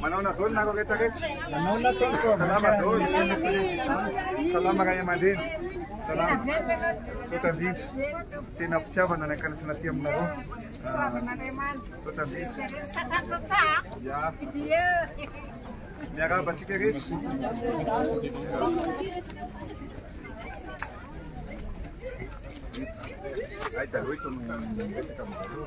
Manaona dôly nareo rehetra rehetra. Manaona tompoko. Salama dôly. Salama ray aman-dreny. Salama. Misaotra indrindra. Tena fitiavana ny ankanasana aty aminareo. Misaotra indrindra. Ya. Miarahaba antsika rehetra. Ay, taloha itony resaka aminareo.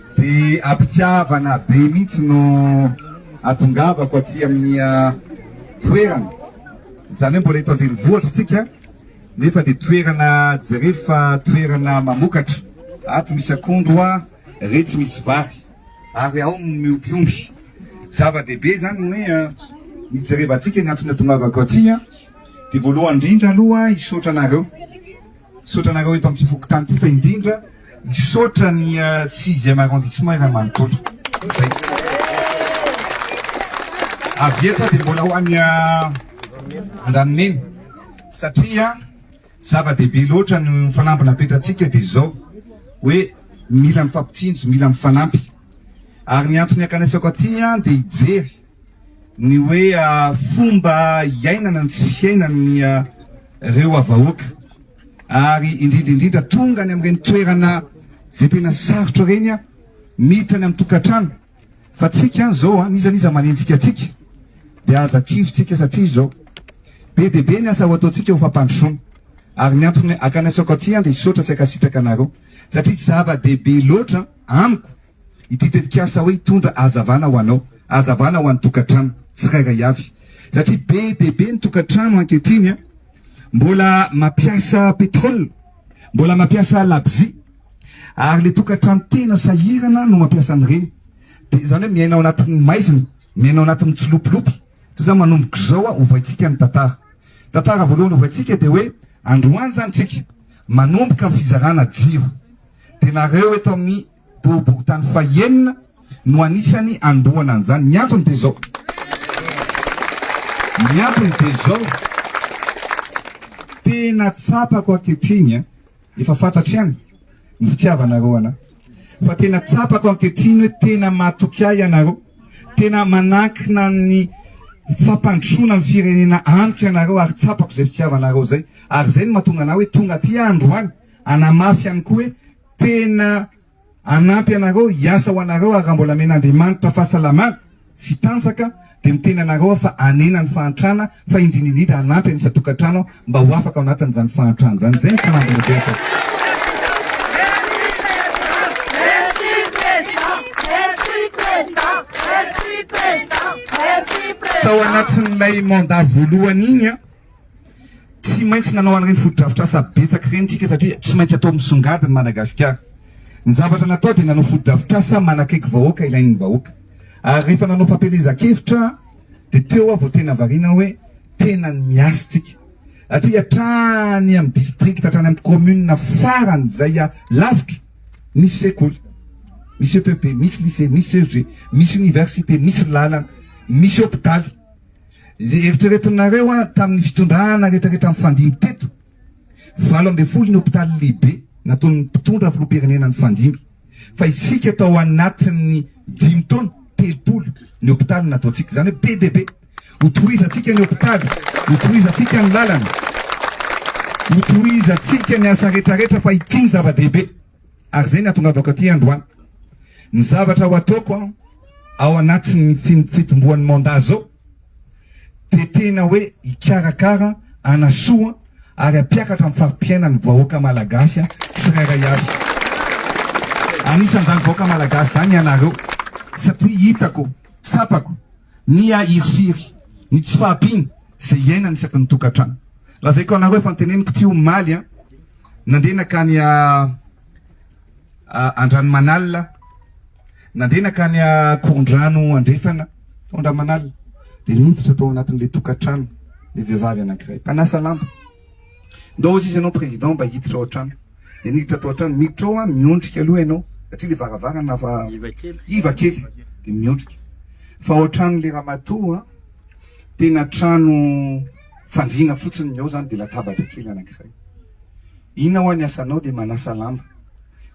Dia am-pitiavana be mihitsy no atongavako aty amin'ny toerana. Izany hoe mbola eto an-drenivohitra isika nefa dia toerana jerevy fa toerana mamokatra. Ato misy akondro hoa, retsy misy vary ary ao no miompy omby. Zava-dehibe izany ny hoe mijerevantsika ny antony atongavako aty. Dia voalohany indrindra aloha hisaotra anareo. Misaotra anareo eto amin'ity fokontany ity fa indrindra misaotra ny sixième arrondissement iray manontolo. Izay. Avy eto dia mbola ho an'ny Andranomena satria zava-dehibe loatra ny fanamby napetratsika dia izao hoe mila mifampitsinjo, mila mifanampy. Ary ny antony akanesako aty dia hijery Ny hoe fomba iainana ny tsy fiainan'ireo havahoaka ary indrindra indrindra tonga any amin'ireny toerana izay tena sarotra ireny miditra any amin'ny tokantrano fa tsika any izao n'iza n'iza manenjika antsika dia aza kirintsika satria izao be dia be ny asa ho ataontsika ho fampandrosoana ary ny antony akana isaoko aty dia hisaotra sy ankasitraka anareo satria zava-dehibe loatra amiko Ity tetikasa hoe hitondra hazavana ho anao, hazavana ho an'ny tokantrano tsirairay avy, satria be dia be ny tokantrano ankehitriny mbola mampiasa petrole, mbola mampiasa labozia, ary ilay tokantrano tena sahirana no mampiasa an'ireny, dia izany hoe miaina ao anatin'ny maizina, miaina ao anatin'ny tsilopilopy, toy izany manomboka izao hovaintsika ny tantara. Tantara voalohany hovaintsika dia hoe androany izany isika manomboka ny fizarana jiro, dia nareo eto amin'ny Boriborintany fahenina no anisany anombohana an'izany. Ny antony dia izao. Ny antony dia izao. Tena tsapako ankehitriny, efa fantatro ihany ny fitiavanareo anà, fa tena tsapako ankehitriny hoe tena matoky ahy ianareo, tena manankina ny fampandrosoana ny firenena amiko ianareo ary tsapako izay fitiavanareo izay. Ary izay no mahatonga anà hoe tonga aty aho androany hanamafy ihany koa hoe Tena hanampy anareo hiasa ho anareo ary raha mbola amen'Andriamanitra fahasalamana sy tanjaka dia miteny anareo aho fa hanena ny fahantrana fa indrindra indrindra hanampy an'isa tokantrano aho mba ho afaka ao anatin'izany fahantrana izany. Izay no fanamby lehibe ataoko. Tao anatin'ilay mandat voalohany iny an, Tsy maintsy nanao an'ireny fotodrafitrasa betsaka ireny isika satria tsy maintsy atao misongadina i Madagasikara. Ny zavatra natao dia nanao fotodrafitrasa manakaiky vahoaka ilain'ny vahoaka. Ary rehefa nanao fampielezan-kevitra dia teo aho vao tena variana aho hoe tena ny miasa isika. Satria hatrany amin'ny distrikta hatrany amin'ny kaominina farany izay lavitra misy sekoly, misy EPP, misy lycée, misy CEG, misy oniversite, misy lalana, misy hopitaly. Izay eritreretinareo an tamin'ny fitondrana retraretra nifandimby teto, valo ambin'ny folo ny hopitaly lehibe nataon'ny mpitondra filoham-pirenena nifandimby, fa isika tao anatin'ny dimy taona telopolo ny hopitaly nataontsika, izany hoe be dia be, hotohizantsika ny hopitaly, hotohizantsika ny lalana, hotohizantsika ny asa retraretra fa ity ny zava-dehibe. Ary izay no hahatongavako aty androany. Ny zavatra ho ataoko an, ao anatin'ny fitomboan'ny mandat zao dia tena hoe hikarakara, hanasoa ary hampiakatra ny fari-piainan'ny vahoaka malagasy an, tsirairay avy. Anisan'izany vahoaka malagasy izany ianareo satria hitako, tsapako ny a hirifiry, ny tsy fahampiana. izay iainana isaky ny tokantrano. Lazaiko anareo fa niteneniko ity omaly an, nandeha nakany a Andranomanalina, nandeha nakany a Korondrano Andrefana tao Andramanalina, dia niditra tao anatin'ilay tokantrano ny vehivavy anankiray mpanasa lamba. Ndao hozy izy ianao président mba hiditra ao an-trano. Dia niditra tao an-trano, miditra ao an, miondrika aloha ianao satria ilay varavarana iva kely, dia miondrika fa ao an-tranon'ilay ramatoa an, Tena trano fandriana fotsiny ny ao zany dia latabatra kely anankiray. Iny aho any asanao dia manasa lamba.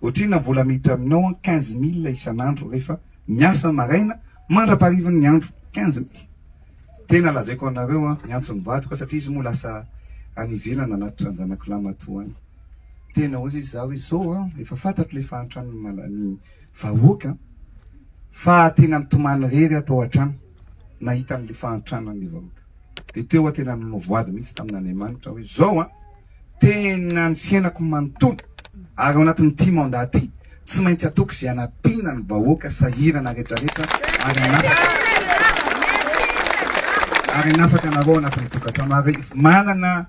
Ohatrina ny vola miditra aminao an 15 mille isan'andro rehefa miasa maraina mandrapaharivin'ny ny andro 15 mille. Tena lazaiko anareo an miantso ny vadiko satria izy moa lasa any ivelany anaty tranjanako lamatoa any. Tena hozy izy za hoe zao an efa fantatro le fahantran'ny vahoaka fa tena mitomany rery aho tao an-trano. nahita an'ilay fahantranan'ny vahoaka. Dia teo aho tena nanao voady mihitsy tamin'Andriamanitra aho hoe izao an, tena ny fiainako manontolo ary ao anatin'ity mandat ity tsy maintsy ataoko izay hanampiana ny vahoaka sahirana rehetrarehetra ary hanafaka ary hanafaka anareo anatin'ny tokantrano ary manana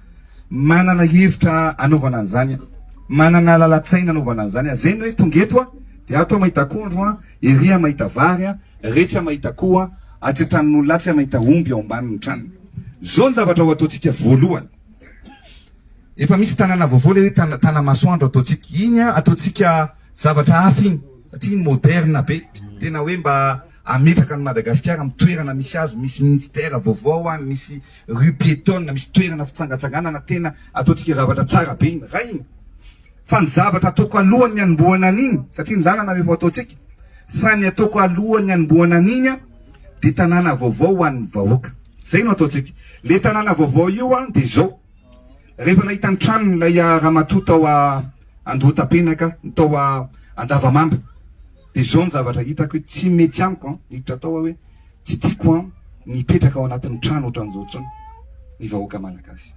manana hevitra anaovana an'izany aho, manana lalan-tsaina anaovana an'izany aho. Izay ny hoe tonga eto aho dia ato aho mahita akondro an, Ery aho mahita vary a, retsy aho mahita akoho a, atsy an-tranon'olona atsy aho mahita omby ao ambanin'ny tranony. Izao ny zavatra ho ataontsika voalohany. Efa misy tanàna vaovao ilay hoe tana Tanamasoandro ataontsika. Iny an, ataontsika zavatra hafa iny, satria iny moderna be. Tena hoe mba hametraka an'i Madagasikara amin'ny toerana misy azy, misy ministère vaovao any, misy rue piétonne, misy toerana fitsangatsanganana, tena ataontsika zavatra tsara be iny. Raha iny. Fa ny zavatra ataoko alohan' ny hanombohana an' iny, satria ny lalana no efa ataontsika, fa ny ataoko alohan' ny hanombohana an' iny an, dia tanàna vaovao ho an' ny vahoaka. Izay no ataontsika. Ilay tanàna vaovao io an, dia izao, rehefa nahita ny tranon' ilay ramatoa tao Andohatapenaka, tao Andavamamba, dia izao ny zavatra hitako hoe tsy mety amiko an, niditra tao aho hoe tsy tiako an ny hipetraka ao anatin' ny trano ohatran' izao intsony ny vahoaka malagasy.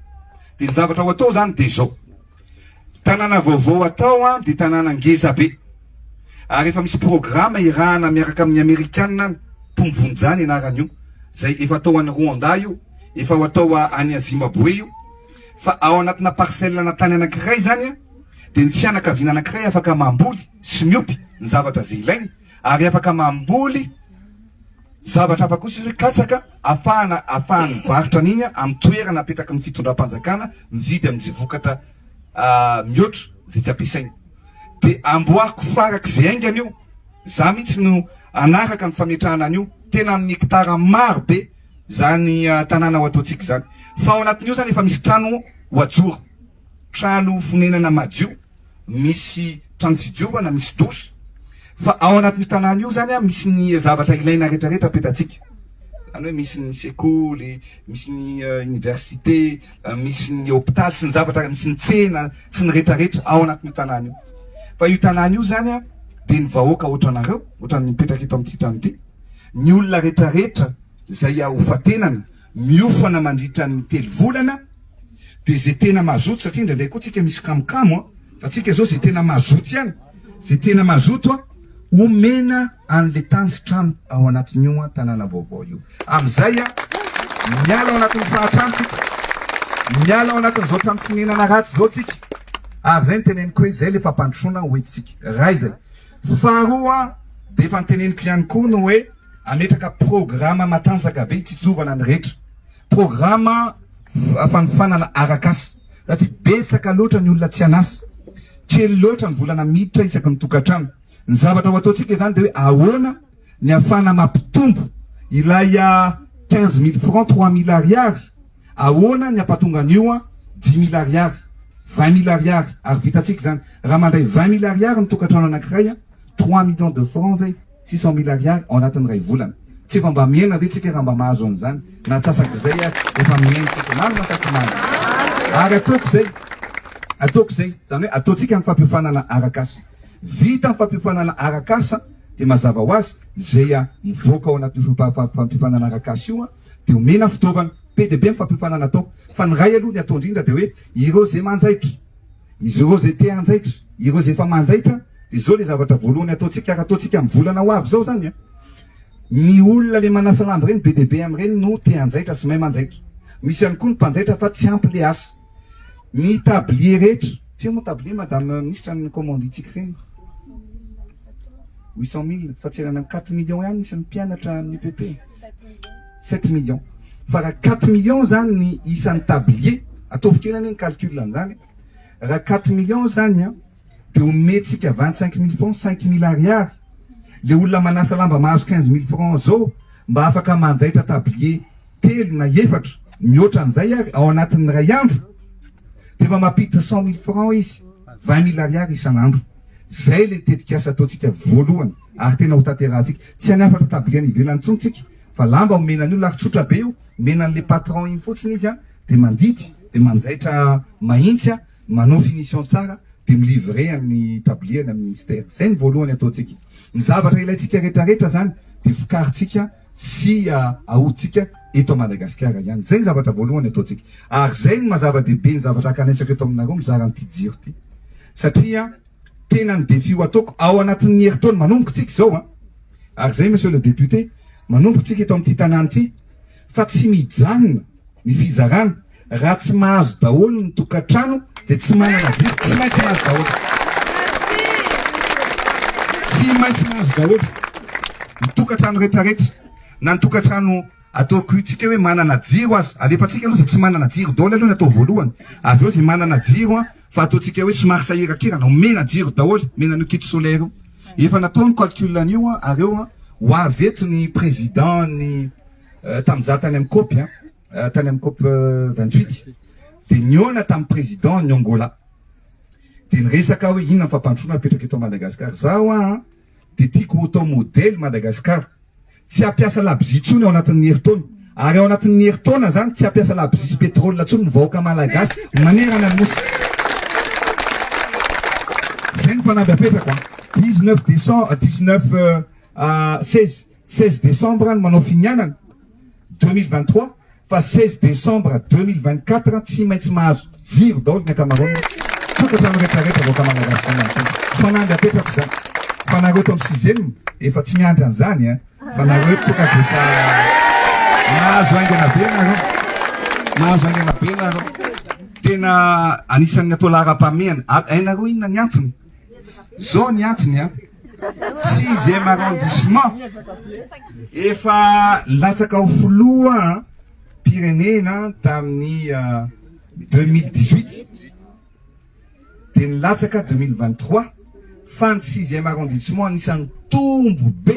Dia ny zavatra ho atao izany dia izao. Tanàna vaovao atao any dia tanàna ngeza be. Ary efa misy programa irahana miaraka amin'ny amerikana any, Tom Vonja ny anaran'io, izay efa atao any Rwanda io, efa ho atao any Zimbabwe io. Fa ao anatina parcelle na tany anankiray izany dia ny fianakaviana anankiray afaka mamboly sy miompy ny zavatra izay ilainy. Ary afaka mamboly zavatra hafa kosa izy hoe katsaka afahana afahany mivarotra an'iny amin'ny toerana apetraky ny fitondram-panjakana mividy amin'izay vokatra mihoatra izay tsy ampiasainy. Dia amboariko farak'izay haingana io, izaho mihitsy no hanaraka ny fametrahana an'io, tena amin'ny hekitara maro be izany tanàna ho ataontsika izany. Fa ao anatin'io izany efa misy trano ho hajoro. trano fonenana madio, misy trano fidiovana, misy douche, fa ao anatin'io tanàna io zany misy ny zavatra ilaina rehetra rehetra petratsika, zany hoe misy ny sekoly, misy ny université, misy ny hôpital sy ny zavatra, misy ny tsena sy ny rehetra rehetra ao anatin'io tanàna io, fa io tanàna io zany dia ny vahoaka otranareo, otran'ny mipetraka eto amin'ity trano ity, ny olona rehetra rehetra izay ahofatenana miofana mandritra ny telo volana dia izay tena mazoto satria indraindray koa tsika misy kamokamo an, fa tsika izao izay tena mazoto ihany, izay tena mazoto an, omena an'ilay tany sy trano ao anatin'io an tanàna vaovao io. Amin'izay an, miala ao anatin'ny fahantrana tsika, miala ao anatin'izao trano fonenana ratsy izao tsika, ary izay no teneniko hoe izay ilay fampandrosoana hoentintsika, iray izay. Faharoa an, dia efa noteneniko ihany koa ny hoe. Hametraka programa matanjaka be hitsitsovana ny rehetra. Programa fanofanana arak'asa, satria betsaka loatra ny olona tsy an'asa. Kely loatra ny volana miditra isaky ny tokantrano. Ny zavatra ho ataontsika izany dia hoe ahoana ny hahafahana mampitombo ilay quinze mille francs, trois mille ariary, ahoana ny hampatonga an'io dix mille ariary, vingt mille ariary, ary vitantsika izany. Raha mandray vingt mille ariary ny tokantrano anankiray, trois millions de francs izay. Six cent mille ariary ao anatin'ny iray volana. Tsy efa mba mihena ve tsika raha mba mahazo an'izany? Na antsasak'izay aza efa mihena tsika. Marina sa tsy marina? Ary ataoko izay, ataoko izay, izany hoe ataontsika ny fampiofanana arak'asa. Vita ny fampiofanana arak'asa dia mazava ho azy, izay mivoaka ao anatin'io fampiofanana arak'asa io dia omena fitaovana. Be dia be ny fampiofanana atao. Fa ny iray aloha, ny atao indrindra dia hoe ireo izay manjaitra. Izy ireo izay te hanjaitra, ireo izay efa manjaitra dia izao ilay zavatra voalohany ataontsika, ary ataontsika amin'ny volana ho avy izao izany an! Ny olona ilay manasa lamba ireny be dia be amin'ireny no te hanjaitra sy mahay manjaitra. Misy ihany koa ny mpanjaitra fa tsy ampy ilay asa. Ny tablier rehetra, tsia moa ny tablier madame ministra ny kaomandintsika ireny? Huit cent mille, fa tsy ela any amin'ny quatre millions ihany isan'ny mpianatra amin'ny EPP. Sept millions. Fa raha quatre millions zany ny isan'ny tablier, ataovy kely anie ny calcul an'izany e. Raha quatre millions zany an, dia omentsika vingt cinq mille francs, cinq mille ariary. Le olona manasa lamba mahazo quinze mille francs zao mba afaka manjaitra tablier telo na efatra mihoatra an'izay ary ao anatin'ny iray andro dia efa mampiditra cent mille francs izy, vingt mille ariary isan'andro. Zay le tetikasa ataontsika voalohany ary tena hotanterahantsika. Tsy any hafatra tablier any ivelany intsony tsika Fa lamba omena an'io lahy tsotra be io, omena an'le patron iny fotsiny izy an, de mandidy, de manjaitra mahintsy an, manao finition tsara, de mi-livrer an'ny tablier any amin'ny ministère. Zay ny voalohany ataontsika. Ny zavatra ilaintsika retraretra zany de vokarintsika sy ahodintsika eto Madagasikara ihany. Zay ny zavatra voalohany ataontsika. Ary zay no maha-zava-dehibe ny zavatra hakanaisaiko eto aminareo mizara an'ity jiro ity. Satria. tena ny défi ho ataoko ao anatin'ny herintaona manomboka isika izao an! ary izay Monsieur le député, manomboka isika eto amin'ity tanàna ity fa tsy mijanona ny fizarana raha tsy mahazo daholo ny tokantrano izay tsy manana jiro, tsy maintsy mahazo daholo, tsy maintsy mahazo daholo ny tokantrano rehetrarehetra na ny tokantrano ataoko isika hoe manana jiro aza, alefantsika aloha izay tsy manana jiro daholo aloha ny atao voalohany, avy eo izay manana jiro an! Fa ataontsika hoe somary sahirakirana, omena jiro daholo, omena an'io kit solaire io. Efa natao ny calcul an'io an, ary eo an, ho avy eto ny président ny tamin'ny za tany amin'ny cop an, tany amin'ny cop 28, dia nihaona tamin'ny président ny Angola, dia niresaka aho hoe inona ny fampandrosoana apetraka eto Madagascar, izaho an, dia tiako ho tao modely Madagasikara tsy hampiasa labozia intsony ao anatin'ny herintaona ary ao anatin'ny herintaona izany tsy hampiasa labozia sy petrole intsony ny vahoaka Malagasy manerana ny nosy. Izay ny fanamby apetrako an. 19 décembre, 19 16 Seize décembre no manao finianana, deux mille vingt trois, fa seize décembre deux mille vingt quatre tsy maintsy mahazo jiro daholo ny ankamaroan'ny tokantrano rehetrarehetra vahoaka malagasy izany amin'ny tena. Fanamby apetrako izany. Fa nareo eto amin'ny sixième efa tsy miandry an'izany an! Fa nareo eto tokatrano efa mahazo haingana be nareo. Mahazo haingana be nareo. Tena anisan'ny atao laharam-pahamehana. Hainareo inona ny antony? Zao ny antony a. Sixième arrondissement. Efa latsaka ho filoha pirenena tamin'ny 2018. Euh, Dia nilatsaka 2023 fa ny sixième arrondissement anisan'ny tombo be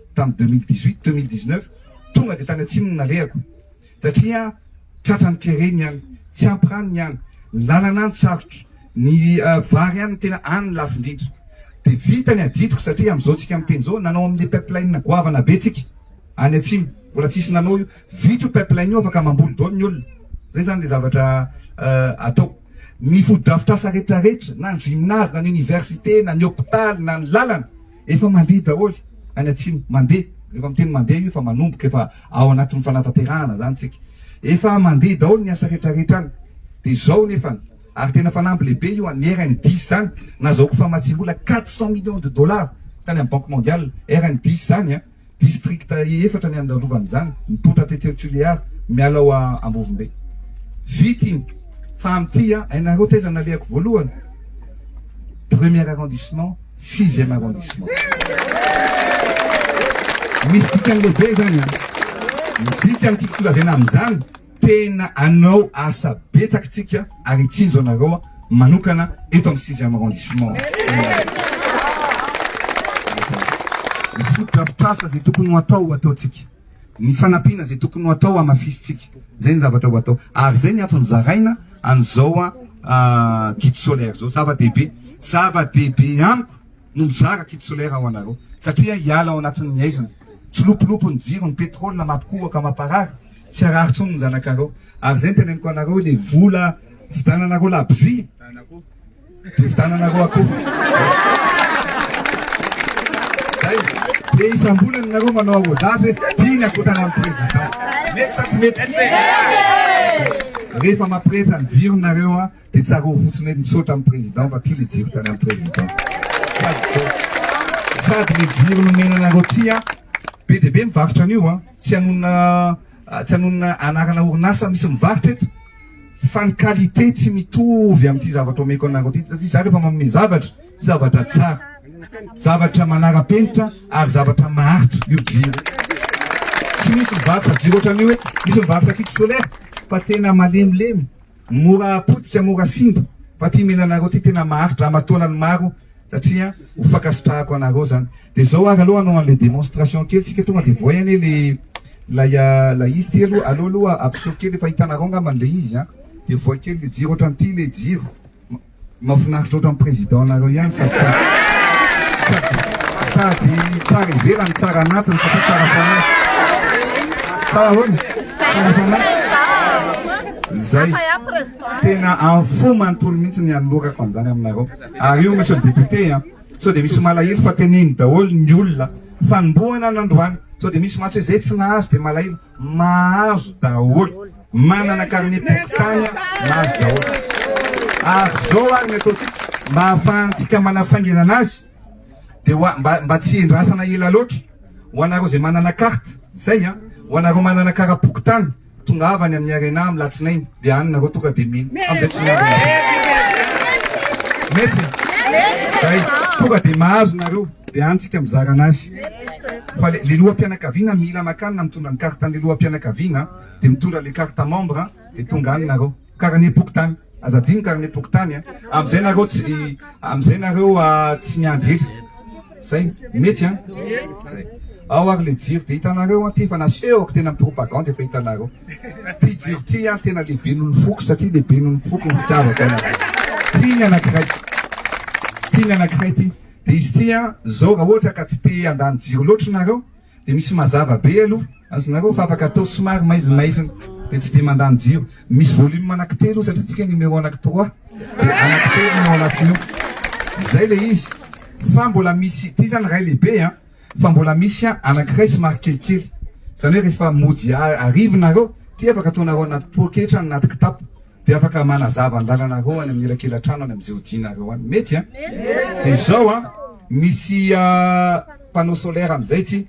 tamin'ny deux mille dix huit deux mille dix neuf tonga dia tany atsimo no nalehako satria tratra ny kere ny any tsy ampy rano ny any ny lalana any sarotra ny vary any tena any ny lafo indrindra dia vita ny adidiko satria amin'izao tsika miteny izao nanao amin'ny pipeline goavana be tsika any atsimo mbola tsisy nanao io vita io pipeline io afaka mamboly daholo ny olona zay zany le zavatra atao ny fotodrafitrasa rehetrarehetra na ny gymnase na ny université na ny hôpital na ny lalana Efa mandeha daholo any atsimo. Mandeha. Rehefa miteny mandeha io efa manomboka efa ao anatin'ny fanatanterahana zany tsika. Efa mandeha daholo ny asa rehetra rehetra any. Dia zao nefany. Ary tena fanamby lehibe io an'ny RNDIS zany. Nazahoako famatsiam-bola quatre cent millions de dollars tany amin'ny banque mondiale. RNDIS zany an. Distrikta efatra ny andandovan' izany, mipoitra tety eo Tuléar, miala ao Ambovombe. Vita iny, fa amin'ity an, hainareo taiza nalehako voalohany? Premier arrondissement, sixième arrondissement. Misy dikany lehibe izany an! Midika ny tiako lazaina amin'izany, Tena anao asa betsak tsika ary itsinjo anareo manokana eto am sixième arrondissement. Ny foto drafitrasa zay tokony ho atao ho ataontsika. Ny fanampiana zay tokony ho atao hamafisintsika. Zay ny zavatra ho atao. Ary zay ny antony zaraina an'izao kit solaire zao. Zava dehibe. Zava dehibe amiko no mizara kit solaire ho anareo. Satria hiala ao anatin'ny haizina. Tsilopilopy ny jiro, ny petrole mampikohoka, mamparary. Tsy harary tsony ny zanakareo ary zay ny teneniko anareo hoe le vola vidananareo labozia de vidananareo akoho zay de isambolany nareo manao arrosage hoe ty ny akoho tanan'ny président mety sa tsy mety rehefa mampirehitra ny jironareo a Dia tsarovy fotsiny hoe misaotra amin'ny Président fa ty le jiro tany amin'ny Président. Sady zao, sady le jiro nomena anareo ty an, be dia be mivarotra an'io an, tsy hanonona tsy hanonona anarana orinasa misy mivarotra eto fa ny qualité tsy mitovy amin'ity zavatra omeko anareo ty satria za rehefa manome zavatra, zavatra tsara, zavatra manara-penitra ary zavatra maharitra io jiro io. Tsy misy mivarotra jiro ohatran'io hoe misy mivarotra kit solaire fa tena malemilemy Mora potika mora simba fa ty mena anareo ty tena maharitra amataonany maro satria ho fankasitrahako anareo zany de zao ary aloha hanao anle demonstration kely tsika tonga de voay anie le lay lay izy ty aloha aleo aloha ampiseho kely efa hitanareo angambany le izy an de voay kely le jiro otrany ty le jiro Mafinaritra ohatran'ny président nareo ihany sady sady sady tsara ivelany tsara anatiny satria tsara fanahy sa ahoana tsara fanahy zay tena info manontolo mihitsy ny anolorako an'izany aminareo ary io monsieur le député a sao dia misy malahelo fa teneno daholo ny olona fanombohana nandroany sao dia misy mantsy hoe zay tsy nahazo dia malahelo mahazo daholo Manana carnet pokontany a, mahazo daholo. Ary zao ary ny ataontsika mba ahafahantsika manafaingana anazy dia ho a, mba mba tsy endrasana ela loatra, ho anareo izay manana carte, zay an, ho anareo manana kara pokontany, tongava any amin'ny Arena amin'ny latsinainy dia any nareo tonga dia mino, amizay tsy miambina mety e, zay, tonga dia mahazo nareo dia any tsika mizara anazy. Fa le le loham-pianakaviana mila makany na mitondra ny carte an'le loham-pianakaviana an. de mitondra le carte membre de tonga any nareo carnet pokontany aza adino carnet pokontany a amizay nareo tsy amizay nareo tsy miandry etra zay mety an zay ao ary le jiro de hitanareo an ty efa nasehoko tena propagande efa hitanareo ty jiro ty an tena lehibe noho ny foko satria lehibe noho ny foko ny fitiavako anareo ty ny anakiray ty ny anakiray ty de izy ty an zao raha ohatra ka tsy te handany jiro loatra nareo Dia misy mazava be aloha, azonareo fa afaka atao somary maizimaizina dia tsy dia mandany jiro. Misy volume anaky telo io satria tsika numéro anaky trois dia anaky telo no ao anatiny ao. Izay ilay izy. Fa mbola misy, ity izany ray lehibe an, fa mbola misy an anakiray somary kelikely. Izany hoe rehefa mody hariva nareo dia afaka ataonareo anaty poketra na anaty kitapo. Dia afaka manazava ny lalanareo any amin'ny elakelan-trano any amin'ny zeodinareo any. Mety an? Dia izao an, misy panneau solaire amin'izay ity.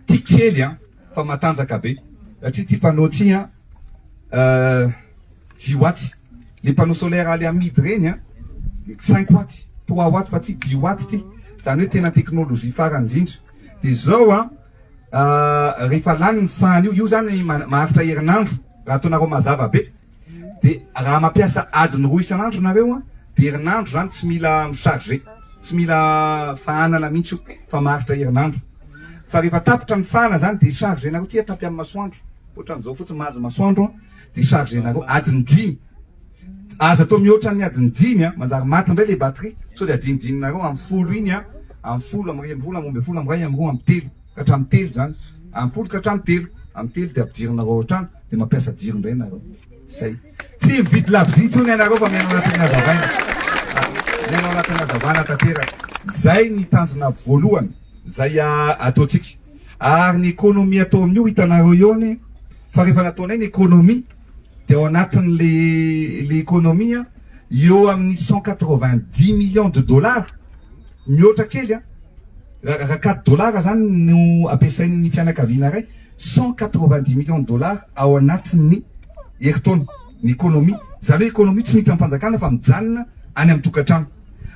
Ity kely an, fa matanjaka be. Satria ity panneau ity an, dix watts. Ilay panneau solaire aly amidy ireny an, cinq watts, trois watts, fa ity dix watts ity. Izany hoe tena technologie farany indrindra. Dia izao an. Rehefa lany ny fany io, io zany maharitra herinandro raha ataonareo mazava be, de raha mampiasa adiny roa isan'andro nareo an, de herinandro zany tsy mila mi-charger, tsy mila fahanana mihitsy io fa maharitra herinandro. Fa rehefa tapitra ny fahana zany de charger-nareo aty tapy amin'ny masoandro, otran'izao fotsiny mahazo masoandro an. Decharger nareo adiny dimy Aza atao mihoatra ny adiny dimy a! Manjary maty indray le batterie sao dia adinodininareo amin'ny folo iny a! Amin'ny folo, amin'ny iray ambin'ny folo, amin'ny roa ambin'ny folo, amin'ny iray, amin'ny roa, amin'ny telo ka hatramin'ny telo izany, amin'ny folo ka hatramin'ny telo, amin'ny telo dia ampidirinareo ao an-trano dia mampiasa jiro indray nareo. Zay. Tsy mividy labozia intsony ianareo fa miaina ao anatin'ny hazavaina. Miaina ao anatin'ny hazavana tanteraka. Zay ny tanjona voalohany zay ataontsika. Ary ny economie atao amin'io hitanareo eo anie, Fa rehefa nataonay ny économie dia ao anatin' le le économie an, eo amin' ny cent quatre vingt dix millions de dollars, mihoatra kely an, raha raha quatre dollars izany no ampiasain' ny fianakaviana iray, cent quatre vingt dix millions de dollars ao anatin' ny herintaona ny économie, izany hoe économie tsy miditra am-panjakana fa mijanona any amin-tokantrano.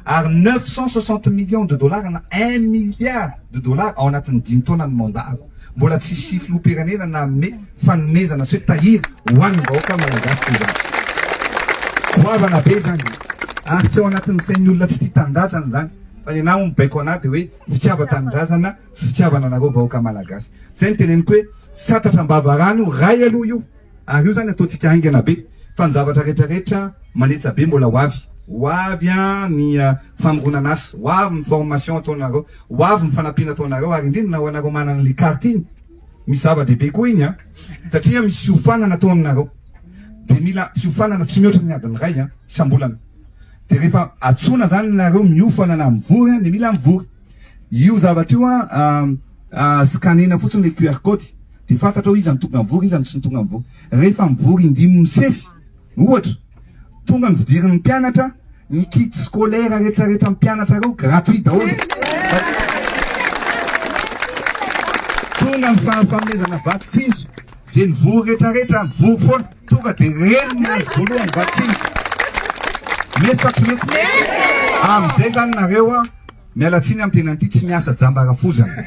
ary neuf cent soixante millions de dollars na un milliard de dollars ao anatin'ny dimy taona ny mandat-ko. Mbola tsy hisy filoham-pirenena nanome fanomezana sy hoe tahiry ho an'ny vahoaka malagasy toy izany. Goavana be izany ary tsy ao anatin'ny sain'ny olona tsy tia tanindrazana izany fa ny anà hono baiko anà dia hoe fitiavan-tanindrazana sy fitiavana anareo vahoaka malagasy. Izay no teneniko hoe satatra am-bava rano ray aloha io. Ary io zany ataontsika haingana be fa ny zavatra rehetra rehetra manetsa be mbola ho avy, ho avy an ny famoronana asa, ho avy ny formation ataonareo, ho avy ny fanampiana ataonareo ary indrindra ho anareo manana an'le carte iny misy zava-dehibe koa iny an satria misy fiofanana ataonareo de mila fiofanana tsy mihoatra ny adiny iray an isam-bolana de rehefa antsoina zany nareo miofana na mivory an de mila mivory io zavatra io an scanner-na fotsiny le QR code Dia fantatrao iza no tonga mivory, iza no tsy nitonga mivory. Rehefa mivory indimy misesy, ohatra, tonga ny fidirin'ny mpianatra, ny kit scolaire retraretra mpianatra ireo gratuit daholo. Tonga ny fahafanomezana vatsy tsinjo, izay nivory retraretra mivory foana, tonga dia reny no nahazo voalohany vatsy tsinjo. Mety sa tsy mety? Amin'izay izany nareo a. Miala tsiny am tena ty tsy miasa jamba rafozana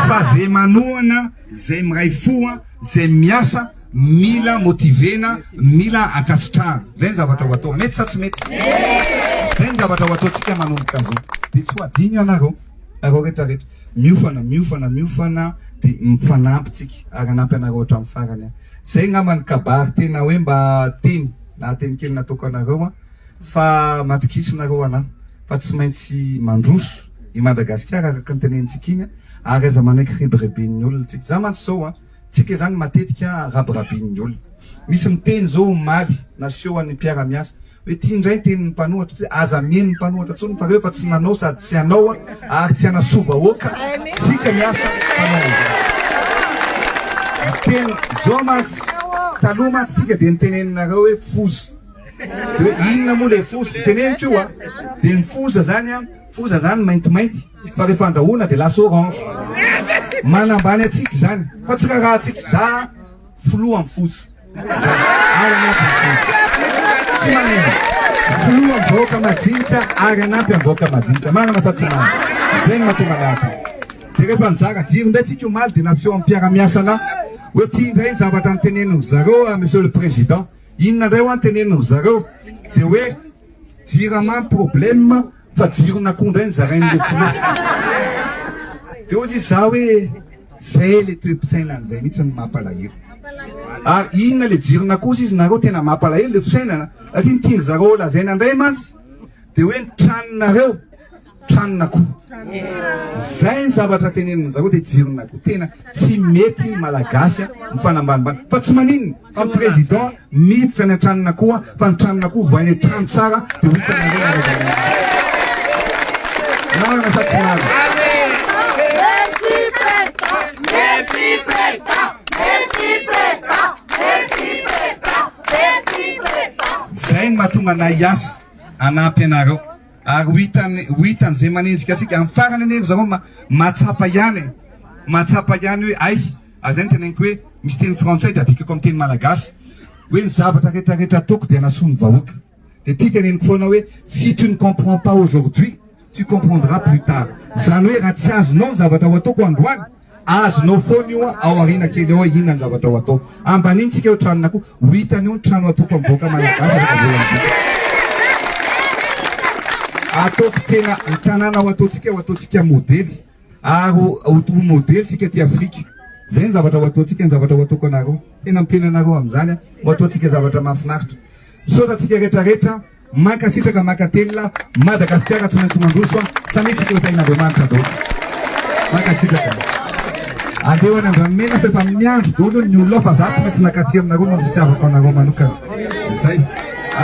fa ze manohana ze miray fo ze miasa mila motivena mila ankasitrahana zay ny zavatra ho atao mety sa tsy mety zay ny zavatra ho ataontsika manomboka zao de tsy ho adino ianareo areo rehetra rehetra miofana miofana miofana de mifanampy tsika ary anampy anareo hatram farany aho zay ngamba ny kabary tena hoe mba teny lahateny kely nataoko anareo an fa matokisa nareo ana fa tsy maintsy mandroso i Madagasikara araka ny tenenitsika iny ary aza manaiky rebirebin'ny olona tsika za mantsy zao a tsika zany matetika rabirabin'ny olona misy miteny zao omaly naseho an'ny mpiara-miasa hoe ty indray ny tenin'ny mpanohatra tsy aza mieno ny mpanohatra tsony fa reo efa tsy nanao sady tsy anao a ary tsy anasoa vahoaka tsika miasa teny zao mantsy taloha mantsy tsika dia niteneninareo hoe foza Hoe inona moa le foza? Teneniko io a! Dia ny foza zany a, foza zany maintimainty fa rehefa andrahoina dia lasa orange. Manambany antsika izany fa tsy rarahantsika. Za filoha amin'ny foza. Ary hanampy ny foza. Tsy manino. Filoha amin'ny vahoaka majinika ary hanampy amin'ny vahoaka majinika. Marina sa tsy marina? Izay no mahatonga anay aty. Dia rehefa nizara jiro indray tsika omaly dia nampiseho amin'ny mpiara-miasa anah hoe ty indray ny zavatra noteneniny zareo a Monsieur le Président. Inona indray hoa ny teneniny ry zareo dia hoe jirama ny problème fa jiron'akoho indray ny zarain'ireo filoha. Dia hozy izy za hoe zay ilay toe-pisainany zay mihitsy no mampalahelo. Ary inona ilay jiron'akoho hozy izy nareo tena mampalahelo ilay fisainana satria ny tian-dry zareo ho lazaina indray mantsy dia hoe ny tranonareo. tranon'akoho. Zay ny zavatra tenenin'ny zareo dia jiron'akoho. Tena tsy mety ny Malagasy mifanambanimbany. Fa tsy maninona fa ny Président miditra any an-tranon'akoho fa ny tranon'akoho vohainy hoe trano tsara dia ho hitanareo ny halevan'azy. Marina sa tsy marina? Zay ny mahatonga anay hiasa hanampy anareo. Ary ho hitany ho hitany izay manenjika antsika amin'ny farany anie ry zareo mahatsapa ihany e! mahatsapa ihany hoe hay! ary izay no teneniko hoe misy teny frantsay dia adikako amin'ny teny malagasy hoe ny zavatra rehetra rehetra ataoko dia hanasoa ny vahoaka dia ity teneniko foana hoe si tu ne comprends pas aujourd'hui tu comprendras plus tard izany hoe raha tsy azonao ny zavatra ho ataoko androany Azonao foana io an, ao aoriana kely ao hoe inona ny zavatra ho atao. Ambanintsika eo tranon'akoho, ho hitany eo ny trano atokom-bahoaka malagasy afaka voalan'ny vitsy. Ataoko tena ny tanàna ho ataontsika ho ataontsika modely ary ho modely tsika aty Afrika. Zay ny zavatra ho ataontsika, ny zavatra ho ataoko anareo. Tena miteny anareo amin'izany aho, ho ataontsika zavatra mahafinaritra. Misaotra antsika rehetra rehetra. Mankasitraka mankatelina Madagasikara tsy maintsy mandroso a samia tsy kletaina Andriamanitra dolo mankasitraka aleo any Andranomena f'efa miandry dolo ny olona ao fa za tsy maintsy nakaty aminareo noho ny fitiavako anareo manokana izay a